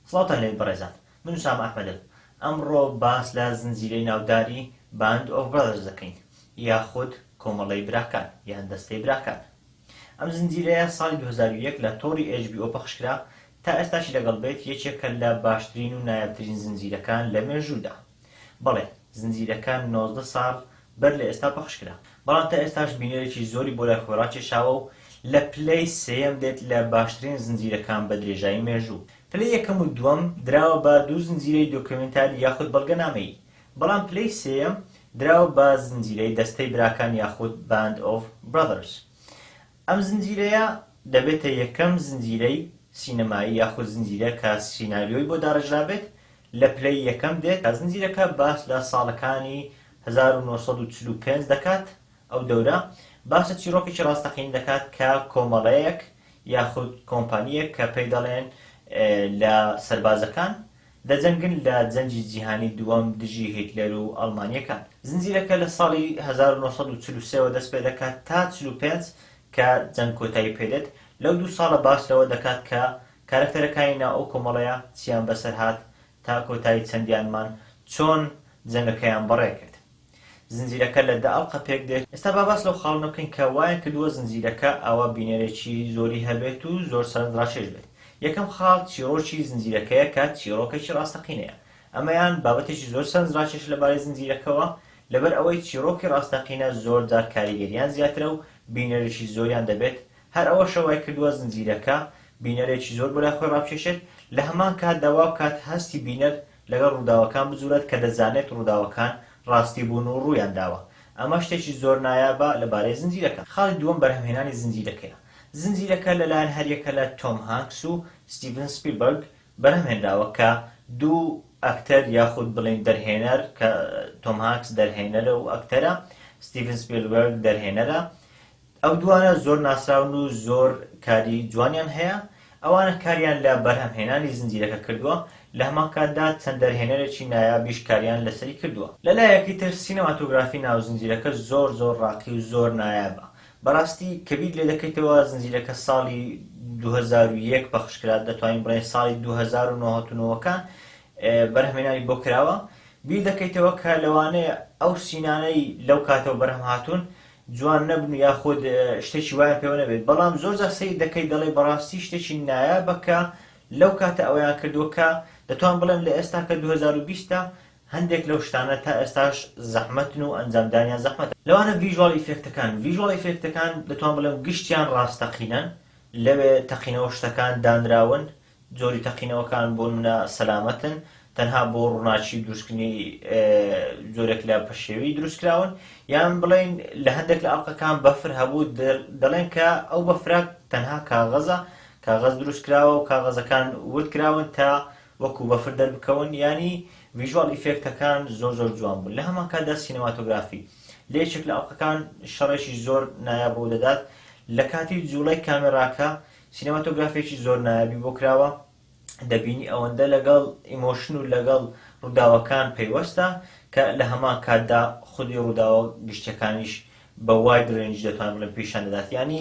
سڵاوتان لێبێت بەڕێزان من ئوسامە ئەحمەدم ئەمڕۆ باس لە زنجیرەی ناوداری Band of Brothers دەکەین یاخود کۆمەڵەی براکان یان دەستەی براکان ئەم زنجیرەیە ساڵی دوو هەزار و یەک لە تۆڕی HBO پەخشکرا تا ئێستاشی لەگەڵ بێت یەکێکە لە باشترین و نایابترین زنجیرەکان لە مێژوودا. بەڵێ، زنجیرەکە نۆزدە ساڵ بەر لە ئێستا پەخش کرا، بەڵام تا ئێستاش بینەرێکی زۆری بۆ لای خۆی ڕاکێشاوە و لە پلەی سێیەم دێت لە باشترین زنجیرەکان بە درێژایی مێژوو. پلەی یەکەم و دووەم دراوە بە دوو زنجیرەی دۆکیۆمێنتاری یاخود بەڵگەنامەیی، بەڵام پلەی سێیەم دراوە بە زنجیرەی دەستەی براکان یاخود Band of Brothers. ئەم زنجیرەیە دەبێتە یەکەم زنجیرەی سینەمایی یاخود زنجیرە کە سیناریۆی بۆ داڕێژرابێت لە پلەی یەکەم دێت، زنجیرەکە باس لە ساڵەکانی هەزار و نۆ سەد و چل و پێنج دەکات، ئەو دەورە باس لە چیڕۆکێکی ڕاستەقینە دەکات کە کۆمەڵەیەک یاخود کۆمپانییەک کە پێی دەڵێن لە سەربازەکان دەجەنگن لە جەنگی جیهانی دووەم دژی هیتلەر و ئەڵمانییەکان. زنجیرەکە لە ساڵی هەزار و نۆ سەد و چل و سێ وە دەست پێ دەکات تا چل و پێنج کە جەنگ کۆتایی پێ دێت، لەو دوو ساڵە باس لەوە دەکات کە کارەکتەرەکانی ناو ئەو کۆمەڵەیە چییان بەسەر هات تا کۆتایی چەندیانمان چۆن جەنگەکەیان بەڕێ کرد. زنجیرەکە لە دە ئەڵقە پێک دێت، ئێستا با باس لەو خاڵانە بکەین کە وایان کردووە زنجیرەکە ئاوا بینەرێکی زۆری هەبێت و زۆر سەرنجڕاکێش بێت. یەکەم خاڵ چیڕۆکی زنجیرەکەیە کە چیڕۆکێکی ڕاستەقینەیە. ئەمەیان بابەتێکی زۆر سەرنجڕاکێشە لەبارەی زنجیرەکەوە، لەبەر ئەوەی چیڕۆکی ڕاستەقینە زۆر جار کاریگەرییان زیاترە و بینەرێکی زۆریان دەبێت، هەر ئەوەشە وای کردووە زنجیرەکە بینەرێکی زۆر بۆ لای خۆی ڕابکێشێت، لە هەمان کاتدا وا بکات هەستی بینەر لەگەڵ ڕووداوەکان بجووڵێت کە دەزانێت ڕووداوەکان ڕاستی بوون و ڕوویان داوە. ئەمە شتێکی زۆر نایابە لەبارەی زنجیرەکە. خاڵی دووەم بەرهەمهێنانی زنجیرەکەیە. زنجیرەکە لەلایەن هەریەکە لە تۆم هانکس و ستیڤن سپیلبەرگ بەرهەمهێنراوە کە دوو ئەکتەر یاخود بڵێین دەرهێنەر کە تۆم هانکس دەرهێنەرە و ئەکتەرە، ستیڤن سپیلبەرگ دەرهێنەرە، ئەو دووانە زۆر ناسراون و زۆر کاری جوانیان هەیە، ئەوانە کاریان لە بەرهەمهێنانی زنجیرەکە کردووە، لە هەمان کاتدا چەند دەرهێنەرێکی نایابیش کاریان لەسەری کردووە. لە لایەکی تر سینەماتۆگرافی ناو زنجیرەکە زۆر زۆر ڕاقی و زۆر نایابە، بەڕاستی کە بیر لێ دەکەیتەوە زنجیرەکە ساڵی دوو هەزار و یەک پەخش کرا، دەتوانین بڵێین ساڵی دوو هەزار و نۆ هەتوونەوەکان بەرهەمهێنانی بۆ کراوە، بیر دەکەیتەوە کە لەوانەیە ئەو سینانەی لەو کاتەوە بەرهەم هاتوون جوان نەبن و یاخود شتێکی وایان پێوە نەبێت بەڵام زۆر جار سەیر دەکەیت دەڵێی بەڕاستی شتێکی نایابە کە لەو کاتە ئەویان کردووە کە دەتوان بڵێم لە ئێستا کە 2020 ە هەندێک لەو شتانە تا ئێستاش زەحمەتن و ئەنجامدانیان زەحمەتە لەوانە ڤیژوال ئیفێکتەکان ڤیژوال ئیفێکتەکان دەتوان بڵێم گشتیان ڕاستەقینەن لەوێ تەقینەوە شتەکان دانراون جۆری تەقینەوەکان بۆ نمونە سەلامەتن، تەنها بۆ ڕووناکی و دروستکردنی جۆرێک لە پەشێوی دروستکراون، یان بڵێین لە هەندێک لە ئەڵقەکان بەفر هەبوو، دەڵێن کە ئەو بەفرە تەنها کاغەزە، کاغەز دروستکراوە و کاغەزەکان وردکراون تا وەکو بەفر دەربکەون، یانی ڤیژواڵ ئیفێکتەکان زۆر زۆر جوان بوون، لە هەمانکاتدا سینەماتۆگرافی، لە یەکێک لە ئەڵقەکان شەڕێکی زۆر نایاب ڕوودەدات، لە کاتی جوڵەی کامێراکە سینەماتۆگرافێکی زۆر نایابی بۆ کراوە دەبینی ئەوەندە لەگەڵ ئیمۆشن و لەگەڵ ڕووداوەکان پەیوەستە کە لە هەمان کاتدا خودی ڕووداوە گشتیەکانیش بە واید رێنج دەتوان بڵێن پیشان دەدات یعنی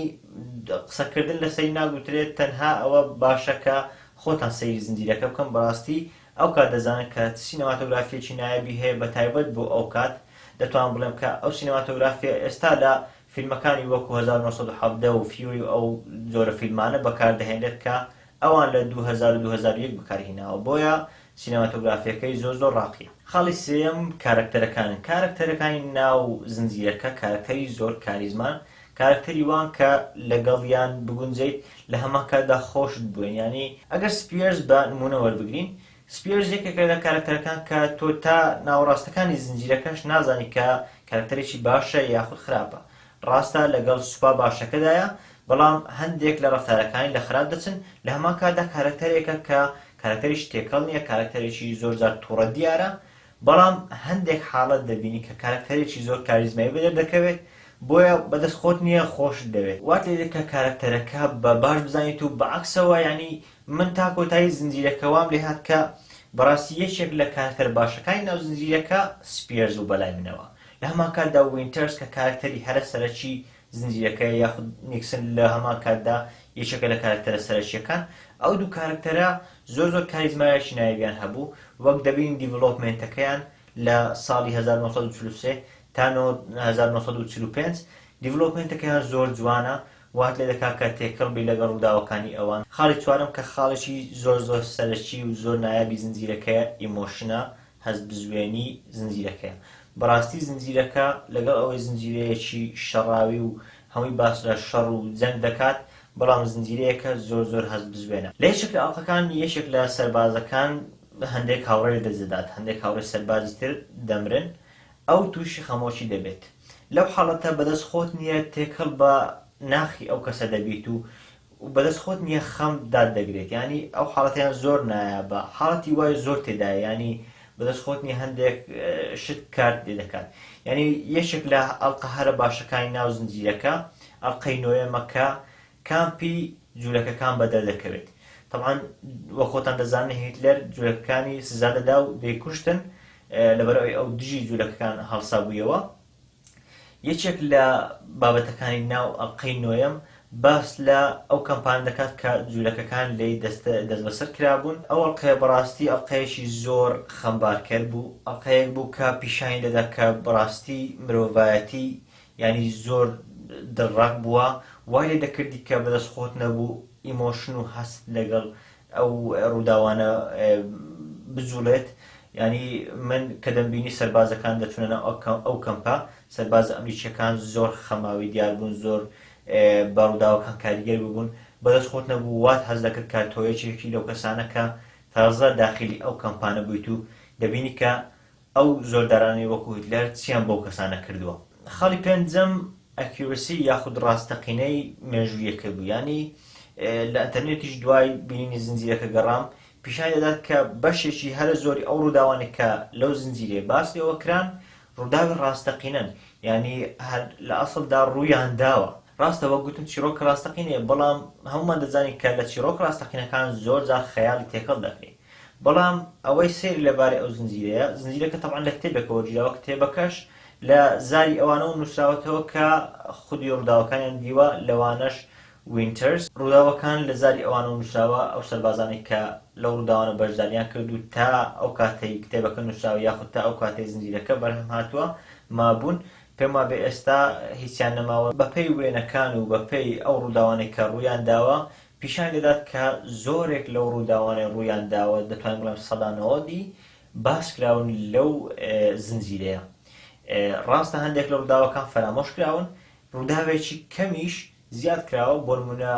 قسەکردن لە سەری ناگوترێت تەنها ئەوە باشە کە خۆتان سەیری زنجیرەکە بکەن بەڕاستی ئەو کات دەزانن کە سینەماتۆگرافیەکی نایابی هەیە بە تایبەت بۆ ئەو کات دەتوان بڵێم کە ئەو سینەماتۆگرافیە ئێستا لە فیلمەکانی وەکو هەزار و نۆ سەد و حەڤدە و فیوری و ئەو جۆرە فیلمانە بەکاردەهێنرێت کە ئەوان لە دوو هەزار و دوو هەزار و یەک بەکارهیناوە بۆیە سینەماتۆگرافیەکەی زۆر زۆر ڕاقیە. خاڵی سێیەم کارەکتەرەکانن کارەکتەرەکانی ناو زنجیرەکە کارەکتەری زۆر کاریزمان کارەکتەری وان کە لەگەڵیان بگونجێیت لە هەمان کاتدا خۆشت بوێن یانی ئەگەر سپییەرس بە نموونە وەربگرین سپیەرز یەکێکە لە کارەکتەرەکان کە تۆ تا ناوەڕاستەکانی زنجیرەکەش نازانی کە کارەکتەرێکی باشە یاخود خراپە. ڕاستە لەگەڵ سوپا باشەکەدایە، بەڵام هەندێک لە ڕەفتارەکانی لە خراپ دەچن، لە هەمان کاتدا کارەکتەرێکە کە کارەکتەریش تێکەڵ نییە، کارەکتەرێکی زۆر جار توڕە دیارە، بەڵام هەندێک حاڵەت دەبینی کە کارەکتەرێکی زۆر کاریزمایی بەدەر دەکەوێت، بۆیە بەدەست خۆت نییە خۆشت دەوێت. وات لێدێت کە کارەکتەرەکە بە باش بزانیت و بەعەکسەوە یانی من تا کۆتایی زنجیرەکە وام لێ هات کە بەڕاستی یەکێک لە کارەکتەرە باشەکانی ناو زنجیرەکە سپیەرز بوو بەلای منەوە لە هەمان کاتدا وینتەرز کە کارەکتەری هەرە سەرەکی زنجیرەکەیە یاخود نیکسن لە هەمان کاتدا یەکێکە لە کارەکتەرە سەرەکییەکان ئەو دوو کارەکتەرە زۆر زۆر کاریزمایەکی نایابیان هەبوو وەک دەبینین دیڤڵۆپمێنتەکەیان لە ساڵی 1943 تا 1945 دیڤڵۆپمێنتەکەیان زۆر جوانە وات لێ دەکات کە تێکەڵ بیت لەگەڵ ڕووداوەکانی ئەوان. خاڵی چوارەم کە خاڵێکی زۆر زۆر سەرەکی و زۆر نایابی زنجیرەکەیە، ئیمۆشنە، هەست بزوێنی، زنجیرەکەیە. بەڕاستی زنجیرەکە لەگەڵ ئەوەی زنجیرەیەکی شەڕاوی و هەمووی باس لە شەڕ و جەنگ دەکات، بەڵام زنجیرەیەکە زۆر زۆر هەست بزوێنە. لە یەکێک لە ئەڵقەکان یەکێک لە سەربازەکان هەندێک هاوڕێی لەدەست دەدات، هەندێک هاوڕێی سەربازی تر دەمرن، ئەو تووشی خەمۆکی دەبێت. لەو حاڵەتە بەدەست خۆت نییە تێکەڵ بە ناخی ئەو کەسە دەبیت و و بەدەست خۆت نییە خەم دات دەگرێت یانی ئەو حاڵەتەیان زۆر نایابە حاڵەتی وای زۆر تێدایە یانی بەدەست خۆت نییە هەندێک شت کارت لێ دەکات یانی یەکێک لە ئەڵقە هەرە باشەکانی ناو زنجیرەکە ئەڵقەی نۆیەمە کە کام پی جولەکەکان بەدەر دەکەوێت تەبعەن وەک خۆتان دەزانن هیتلەر جولەکەکانی سزا دەدا و دەیکوشتن لەبەر ئەوی ئەو دژی جولەکەکان هەڵسا بوویەوە یەکێک لە بابەتەکانی ناو ئەڵقەی نۆیەم باس لە ئەو کەمپان دەکات کە جوولەکەکان لی دەست بەسەر کرابوون ئەو ئەڵلقەیە بەڕاستی ئەڵلقەیەکی زۆر خەمبارکەر بوو ئەڵلقەیەک بوو کە پیشانی دەدا کە بەڕاستی مرۆڤایەتی یانی زۆر دڵڕاق بووە وای لێ دەکردی کە بەدەست خۆت نەبوو ئیمۆشن و هەست لەگەڵ ئەو ڕووداوانە بجوڵێت یانی من کە دەمبینی سەربازەکان دەچونە ناو ئەو کەمپە سەربازە ئەمریکیەکان زۆر خەماوی دیار بوون زۆر بە ڕووداوەکان کاریگەر ببوون بەدەست خۆت نەبوو وات هەز دەکرد کە تۆیەکێکی لەو کەسانە کە تازە داخلی ئەو کەمپانە بوویت و دەبینی کە ئەو زۆردارانەی وەکو هیتلەر چیان بەو کەسانە کردووە؟ خاڵی پێنجەم Accuracy یاخود ڕاستەقینەی مێژوویەکەی بوو یانی لە ئەنتەرنێتیش دوای بینینی زنجیرەکە گەڕام پیشانی دەدات کە بەشێکی هەرە زۆری ئەو ڕووداوانە کە لەو زنجیرەیە باس لێوە کران ڕووداوی ڕاستەقینەن یانی هەر لە ئەسڵدا ڕوویان داوە ڕاستە وەک گوتم چیڕۆک ڕاستەقینەیە بەڵام هەموومان دەزانین کە لە چیڕۆکە ڕاستەقینەکان زۆر جار خەیاڵی تێکەڵ دەکرێ بەڵام ئەوەی سەیر لە بارەی ئەو زنجیرەیە زنجیرەکە تەبعەن لە کتێبێکە وەرگیراوە کتێبەکەش لە زاری ئەوانەوە نووسراوەتەوە کە خودی ڕووداوەکانیان دیوە لەوانەش وینتەرس ڕووداوەکان لە زاری ئەوانەوە نووسراوە ئەو سەربازانەی کە لەو ڕووداوانە بەشداریان کرد و تا ئەو کاتەی کتێبەکە نووسراوە یاخود تا ئەو کاتەی زنجیرەکە بەرهەم هاتووە مابوون پێم وابێ ئێستا هیچیان نەماوە. بەپێی وێنەکان و بەپێی ئەو ڕووداوانەی کە ڕوویان داوە، پیشانی دەدات کە زۆرێک لەو ڕووداوانەی ڕوویان داوە، دەتوانین بڵێن سەدا نەوەدی، باس کراون لەو زنجیرەیە. ڕاستە هەندێک لە ڕووداوەکان فەرامۆش کراون، ڕووداوێکی کەمیش زیاد کراوە، بۆ نموونە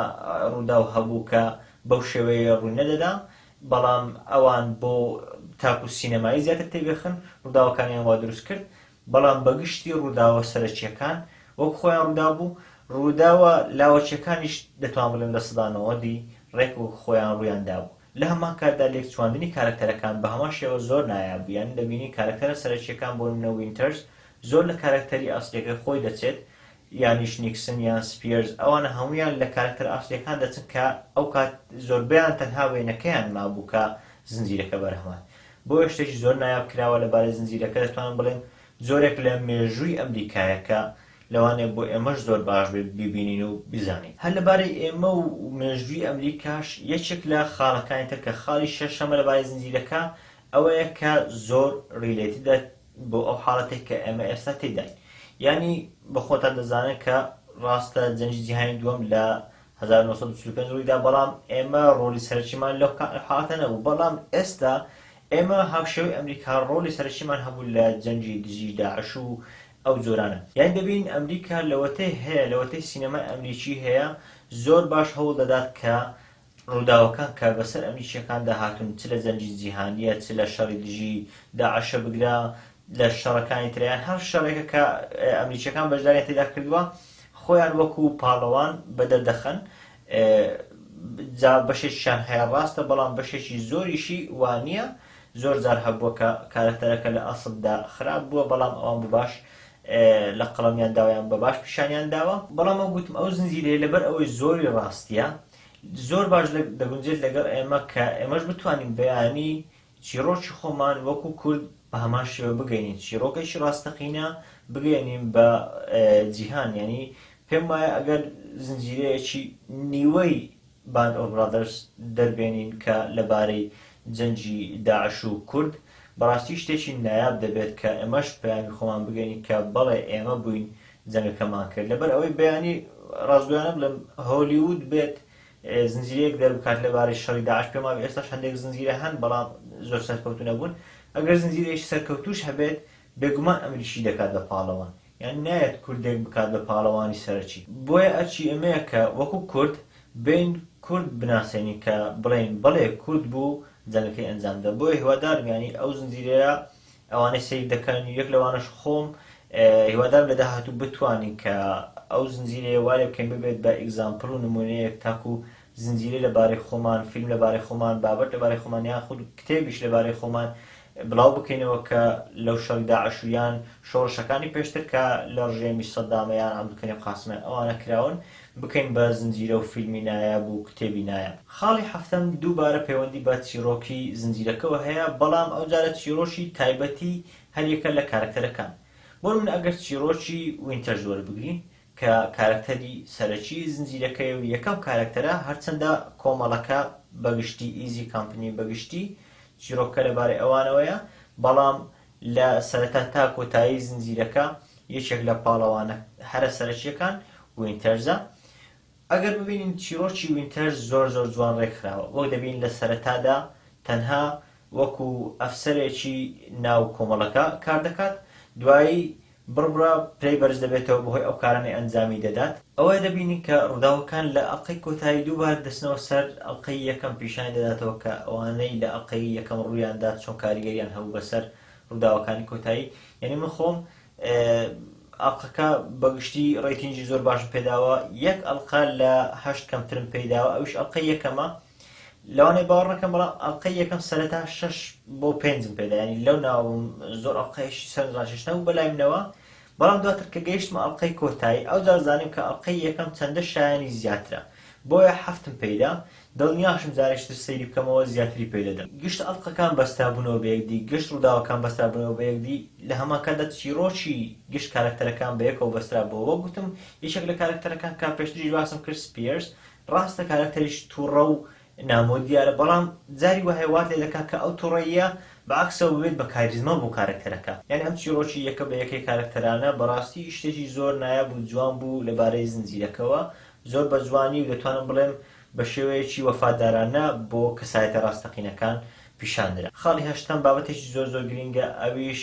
ڕووداو هەبوو کە بەو شێوەیە ڕووی نەدەدا، بەڵام ئەوان بۆ تاکوو سینەمایی زیاتر تێبێخن، ڕووداوەکانیان وا دروست کرد، بەڵام بەگشتی ڕووداوە سەرەکییەکان وەک خۆیان ڕوودابوو، ڕووداوە لاوەکییەکانیش دەتوان بڵێم لە سەدا نەوەدی ڕێک وەک خۆیان ڕوویان دابوو. لە هەمان کاتدا لێکچواندنی کارەکتەرەکان بە هەمان شێوە زۆر نایاب بوو، یانی دەبینی کارەکتەرە سەرەکییەکان بۆ نموونە وینتەرز زۆر لە کارەکتەری ئەسڵییەکەی خۆی دەچێت، یانیش نیکسن یان سپیەرز ئەوانە هەموویان لە کارەکتەرە ئاسڵیەکان دەچن کە ئەوکات زۆربەیان تەنها وێنەکەیان مابوو کە زنجیرەکە بەرهەمهات بۆیە شتێکی زۆر نایاب کراوە لەبارەی زنجیرەکە دەتوانم بڵێم جۆرێک لە مێژووی ئەمریکایە کە لەوانەیە بۆ ئێمەش زۆر باش بێت بیبینین و بیزانین. هەر لەبارەی ئێمە و مێژووی ئەمریکاش یەکێک لە خاڵەکانی تر کە خاڵی شەشەمە لەبارەی زنجیرەکە ئەوەیە کە زۆر ڕیلەیتدە بۆ ئەو حاڵەتەی کە ئێمە ئێستا تێیداین یانی بە خۆتان دەزانن کە ڕاستە جەنجی جیهانی دووەم لە 1945 ڕوویدا بەڵام ئێمە ڕۆلی سەرچیمان لەو حاڵەتە نەبوو بەڵام ئێستا ئێمە هاوشێوەی ئەمریکا ڕۆلی سەرچیمان هەبوو لە جەنجی دژی داعش و ئەو جۆرانە یان دەبین ئەمریکا لەوەتەی هەیە لەوەتەی سینەمای ئەمریکی هەیە زۆر باش هەوڵ دەدات کە ڕووداوەکان کە بەسەر ئەمریکییەکاندا هاتوون، چ لە جەنگی جیهانییە، چ لە شەڕی دژی داعشە، بگرە لە شەڕەکانی تر، یان هەر شەڕێکە کە ئەمریکییەکان بەشدارییان تێدا کردووە، خۆیان وەکو پاڵەوان بەدەر دەخەن. جا بەشێکیشیان هەیە ڕاستە، بەڵام بەشێکی زۆریشی وا نییە. زۆر جار هەبووە کە کارەکتەرەکە لە ئەسڵدا خراپ بووە، بەڵام ئەوان بە باش لە قەڵەمیان داوە یان بە باش پیشانیان داوە. بەڵام وەک گوتم ئەو زنجیرەیە لەبەر ئەوەی زۆری ڕاستییە، زۆر باش دەگونجێت لەگەڵ ئێمە کە ئێمەش بتوانین بەیانی چیرۆکی خۆمان وەکو کورد بە هەمان شێوە بگەینین چیرۆکێکی ڕاستەقینە بگەێنین بە جیهان ینی پێم وایە ئەگەر زنجیرەیەکی نیوەی باند ئۆبرادرس دەربێنین کە لەبارەی جەنجی داعش و کورد بەڕاستی شتێکی نایاب دەبێت کە ئێمەش پەیامی خۆمان بگەین کە بەڵێ ئێمە بووین جەنگەکەمان کرد لەبەر ئەوەی بەیانی ڕاستگۆیانە بڵێم هۆلیوود بێت زنجیرەیەک دەربکات لەبارەی شەڕی داعش پێم وابێ ئێستاش هەندێک زنجیرە هەن بەڵام زۆر سەرکەوتوو نەبوون ئەگەر زنجیرەیەکی سەرکەوتووش هەبێت بێگومان ئەمریکی دەکات بە پاڵەوان یان نایەت کوردێک بکات بە پاڵەوانی سەرەکی بۆیە ئەرکی ئێمەیە کە وەکوو کورد بێین کورد بناسێنین کە بڵێین بەڵێ کورد بوو جەنگەکەی ئەنجامدا بۆیە هیوادارم یانی ئەو زنجیرەیە ئەوانەی سەیر دەکەن و یەک لەوانەش خۆم هیوادارم لە داهاتوو بتوانین کە ئەو زنجیرەیە وارێ بکەین ببێت بە ئیگزامپڵ و نمونەیەک تاکو زنجیرەی لەبارەی خۆمان فیلم لەبارەی خۆمان بابەت لەبارەی خۆمان یان خود کتێبیش لەبارەی خۆمان بڵاو بکەینەوە کە لەو شەڕی داعش و یان شۆڕشەکانی پێشتر کە لە ڕژێمی سەدامە یان عەبدولکەریم قاسمە ئەوانە کراون بکەین بە زنجیرە و فیلمی نایاب و کتێبی نایاب. خاڵی حەفتەم، دووبارە پەیوەندی بە چیڕۆکی زنجیرەکەوە هەیە، بەڵام ئەوجارە چیڕۆکی تایبەتی هەریەکە لە کارەکتەرەکان. بۆ نمونە ئەگەر چیڕۆکی وینتەرز وەربگرین کە کارەکتەری سەرەکی زنجیرەکەیە و یەکەم کارەکتەرە، هەرچەندە کۆمەڵەکە بەگشتی، ئیزی کەمپنی بەگشتی چیڕۆکەکە لەبارەی ئەوانەوەیە، بەڵام لە سەرەتا تا کۆتایی زنجیرەکە یەکێک لە پاڵەوانە هەرە سەرەکییەکان وینتەرزە ئەگەر ببینین چیرۆکی وینتەر زۆر زۆر جوان ڕێکخراوە وەک دەبین لە سەرەتادا تەنها وەکو ئەفسەرێکی ناو کۆمەڵەکە کار دەکات دوایی بڕبڕە پرەی بەرز دەبێتەوە بەهۆی ئەو کارانەی ئەنجامی دەدات. ئەوە دەبینین کە ڕووداوەکان لە ئەڵقەی کۆتایی دووبارە دەچنەوە سەر ئەڵقەی یەکەم پیشانی دەداتەوە کە ئەوانەی لە ئەڵقەی یەکەم ڕوویان دا چۆن کاریگەریان هەبوو بەسەر ڕووداوەکانی کۆتایی یانی من خۆم ئەڵقەکە بەگشتی ڕیتینگی زۆر باشم پێداوە یەک ئەڵقە لە هەشت کەمترم پێداوە ئەوش ئەڵقەی یەکەمە لەوانەیە باوەڕ نەکەن بەڵام ئەڵقەی یەکەم سەرەتا شەش بۆ پێنجم پێدا ینی لەو ناوم زۆر ئەڵلقەیشی سەرزان شش نەبوو بەلای منەوە بەڵام دواتر کە گەیشتمە ئەڵلقەی کۆتایی ئەو جارزانیم کە ئەڵلقەی یەکەم چەندە شایانی زیاترە بۆیە حەفتم پیدا دڵنیاشم جارێشتر سەیری بکەمەوە زیاتری پێ دەدەم گشت ئەڵلقەکان بەسترابوونەوە بە یەکدی گشت ڕووداوەکان بەسترابوونەوە بە یەکدی لە هەمانکاتدا چیرۆکی گشت کارەکتەرەکان بە یەکەوە بەسترابووە وەک گوتم یەکێک لە کارەکتەرەکان کە پێشتریش باسم کرد سپیەرس ڕاستە کارەکتەریش توڕە و نامۆ دیارە بەڵام جاری وایە وات لێ دەکات کە ئەو توڕەییە بە عەکسەوە ببێت بە کاریزما بۆ کارەکتەرەکە. یانی ئەم چیڕۆکی یەکە بە یەکەی کارەکتەرانە بەڕاستی شتێکی زۆر نایاب و جوان بوو لە بارەی زنجیرەکەوە زۆر بە جوانی و دەتوانم بڵێم بە شێوەیەکی وەفادارانە بۆ کەسایەتە ڕاستەقینەکان پیشان درا. خاڵی هەشتەم بابەتێکی زۆر زۆر گرینگە ئەویش.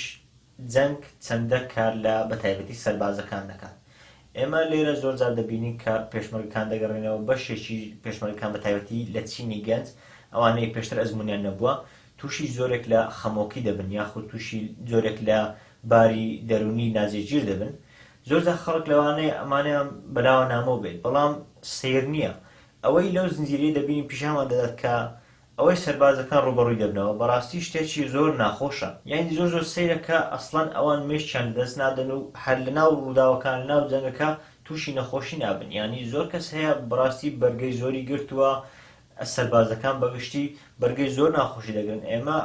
جەنگ چەندە کار لە بە تایبەتی سەربازەکان دەکات؟ ئێمە لێرە زۆر جار دەبینین کە پێشمەرگەکان دەگەڕێنەوە، بەشێکی پێشمەرگەکان بە تایبەتی لە چینی گەنج، ئەوانەی پێشتر ئەزموونیان نەبووە، تووشی جۆرێک لە خەمۆکی دەبن یاخود تووشی جۆرێک لە باری دەروونی ناجێگیر دەبن. زۆر جار خەڵک لەوانەیە ئەمانەیان بەلاوە نامۆ بێت، بەڵام سەیر نییە. ئەوەی لەو زنجیرەیە دەبینین پیشانمان دەدات کە ئەوەی سەربازەکان ڕووبەڕووی دەبنەوە بەڕاستی شتێکی زۆر ناخۆشە یانی زۆر زۆر سەیرە کە ئەسڵەن ئەوان مێشکیان لەدەست نادەن و هەر لەناو ڕووداوەکان لەناو جەنگەکە تووشی نەخۆشی نابن یانی زۆر کەس هەیە بەڕاستی بەرگەی زۆری گرتووە سەربازەکان بەگشتی بەرگەی زۆر ناخۆشی دەگرن ئێمە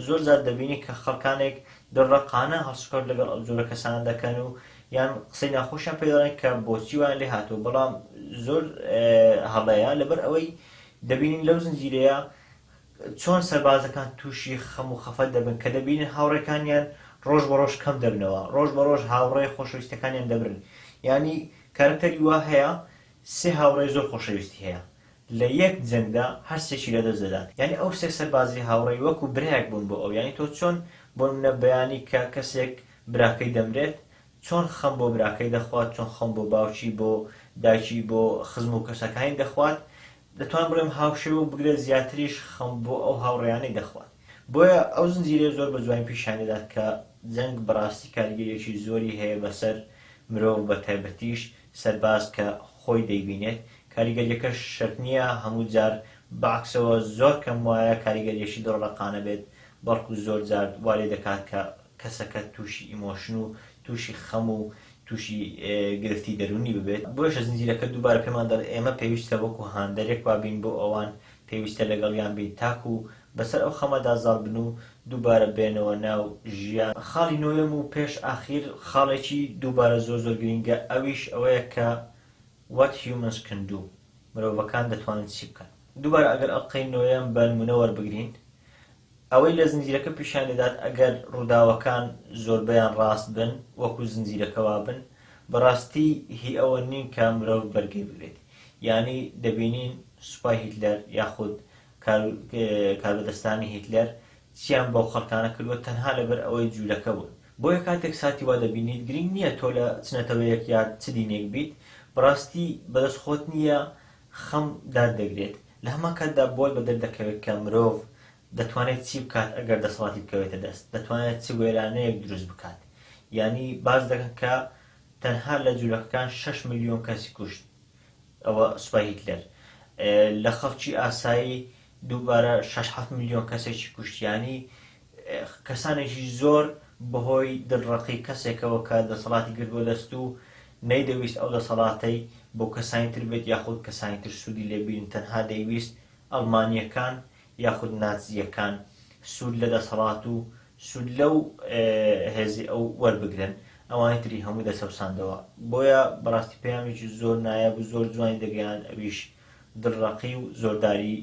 زۆر جار دەبینین کە خەڵکانێک دڕەقانە هەڵسوکەوت لەگەڵ ئەو جۆرە کەسانە دەکەن و یان قسەی ناخۆشیان پێدەڵێن کە بۆچی وایان لێ هاتووە بەڵام زۆر هەڵەیە لەبەر ئەوەی دەبینین لەو زنجیرەیە چۆن سەربازەکان تووشی خەم و خەفەت دەبن کە دەبینن هاوڕێکانیان ڕۆژ بە ڕۆژ کەم دەبنەوە، ڕۆژ بە ڕۆژ هاوڕێ خۆشەویستەکانیان دەبرن، یانی کارەکتەری وا هەیە سێ هاوڕێی زۆر خۆشەویستی هەیە لە یەک جەنگدا هەر سێکی لەدەست دەدات، یانی ئەو سێ سەربازی هاوڕێی وەکو برایەک بوون بۆ ئەو، یانی تۆ چۆن بۆنمونە بەیانی کە کەسێک براکەی دەمرێت چۆن خەم بۆ براکەی دەخوات، چۆن خەم بۆ باوکی، بۆ دایکی، بۆ خزم و کەسەکانی دەخوات، دەتوانم بڵێم هاوشێوە و بگرە زیاتریش خەم بۆ ئەو هاوڕێیانەی دەخوات. بۆیە ئەو زنجیرەیە زۆر بە جوانی پیشانی دەدات کە جەنگ بەڕاستی کاریگەرییەکی زۆری هەیە بەسەر مرۆڤ بە تایبەتیش سەرباز کە خۆی دەیبینێت، کاریگەرییەکەش شەرت نییە هەموو جار بە عەکسەوە زۆر کەم وایە کاریگەرییەکی دڵڕەقانە بێت، بەڵکو زۆر جار وا لێ دەکات کە کەسەکە تووشی ئیمۆشن و تووشی خەم و تووشی گرفتی دەروونی ببێت بۆیشە زنجیرەکە دووبارە پێمان دەڵێت ئێمە پێویستە وەکو هاندەرێک وابین بۆ ئەوان پێویستە لەگەڵیان بین تاکو بەسەر ئەو خەمەدا زاڵ بن و دووبارە بێنەوە ناو ژیان. خاڵی نۆیەم و پێش ئاخیر خاڵێکی دووبارە زۆر زۆر گرینگە ئەویش ئەوەیە کە What Humans Can Do مرۆڤەکان دەتوانن چی بکەن دووبارە ئەگەر ئەڵقەی نۆیەم بە نموونە وەربگرین ئەوەی لە زنجیرەکە پیشان دەدات ئەگەر ڕووداوەکان زۆربەیان ڕاست بن وەکو زنجیرەکە وابن بەڕاستی هی ئەوە نین کە مرۆڤ بەرگەی بگرێت یانی دەبینین سوپای هیتلەر یاخود کاربەدەستانی هیتلەر چیان بەو خەڵکانە کردووە تەنها لەبەر ئەوەی جولەکە بوون. بۆیە کاتێک ساتی وا دەبینیت گرینگ نییە تۆ لە چ نەتەوەیەک یا چ دینێک بیت بەڕاستی بەدەست خۆت نییە خەم دات دەگرێت لە هەمان کاتدا بۆت بە دەردەکەوێت کە مرۆڤ دەتوانێت چی بکات ئەگەر دەسەڵاتی بکەوێتە دەست، دەتوانێت چ وێرانەیەک دروست بکات. یانی باس دەکەن کە تەنها لە جولەکەکان شەش ملیۆن کەسی کوشت، ئەوە سوپای هیتلەر. لە خەڵکی ئاسایی دووبارە شەش حەفت ملیۆن کەسێکی کوشت. یانی کەسانێکی زۆر بەهۆی دڵڕەقی کەسێکەوە کە دەسەڵاتی گرتووە دەست و نەیدەویست ئەو دەسەڵاتەی بۆ کەسانی تر بێت یاخود کەسانی تر سوودی لێ بینن تەنها دەیویست ئەڵمانییەکان یاخود ناتزییەکان سوود لە دەسەڵات و سوود لەو هێزی ئەو وەربگرن ئەوانی تری هەمووی دەچەوساندەوە بۆیە بەڕاستی پەیامێکی زۆر نایاب و زۆر جوانی دەگەیاند ئەویش دڵڕەقی و زۆرداری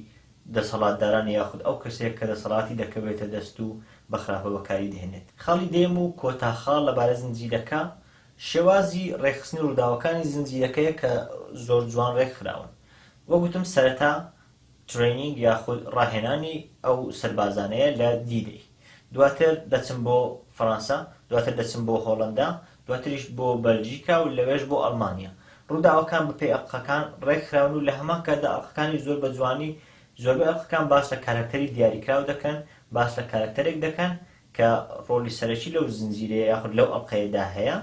دەسەڵاتداران یاخود ئەو کەسەیە کە دەسەڵاتی دەکەوێتە دەست و بە خراپە بەکاری دەهێنێت. خاڵی دەیەم و کۆتا خاڵ لەبارەی زنجیرەکە، شێوازی ڕێکخستنی ڕووداوەکانی زنجیرەکەیە کە زۆر جوان ڕێکخراون. وەک وتم سەرەتا ترەینینگ یاخود ڕاهێنانی ئەو سەربازانەیە لە دی دەی. دواتر دەچن بۆ فەرانسە، دواتر دەچن بۆ هۆڵەندا، دواتریش بۆ بەلجیکا و لەوێش بۆ ئەڵمانیا. ڕووداوەکان بەپێی ئەڵقەکان ڕێکخراون و لە هەمان کاتدا ئەڵقەکانی زۆر بە جوانی زۆربەی ئەڵقەکان باس لە کارەکتەری دیاریکراو دەکەن، باس لە کارەکتەرێک دەکەن کە ڕۆڵی سەرەکی لەو زنجیرەیە یاخود لەو ئەڵقەیەدا هەیە.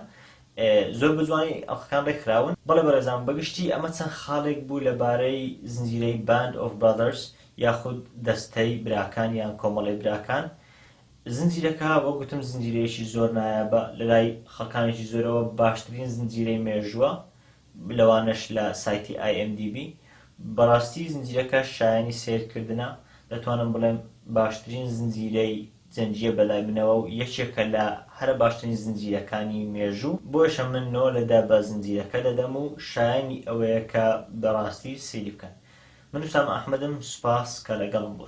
زۆر بە جوانی ئەڵقەکان ڕێکخراون. بەڵێ بەڕێزان، بە گشتی ئەمە چەند خاڵێک بوو لەبارەی زنجیرەی Band of Brothers یاخود دەستەی براکان یان کۆمەڵەی براکان. زنجیرەکە وەک گوتم زنجیرەیەکی زۆر نایابە، لەلای خەڵکانێکی زۆرەوە باشترین زنجیرەی مێژووە، لەوانەش لە سایتی IMDB، بەڕاستی زنجیرەکە شایەنی سەیرکردنە، دەتوانم بڵێم باشترین زنجیرەی جەنگییە بەلای منەوە و یەکێکە لە هەرە باشترین زنجیرەکانی مێژوو، بۆیشە من نۆ لە دە بە زنجیرەکە دەدەم و شایەنی ئەوەیە کە بەڕاستی سەیری بکەن. من وسام ئەحمەدم سوپاس کە لەگەڵم بوون.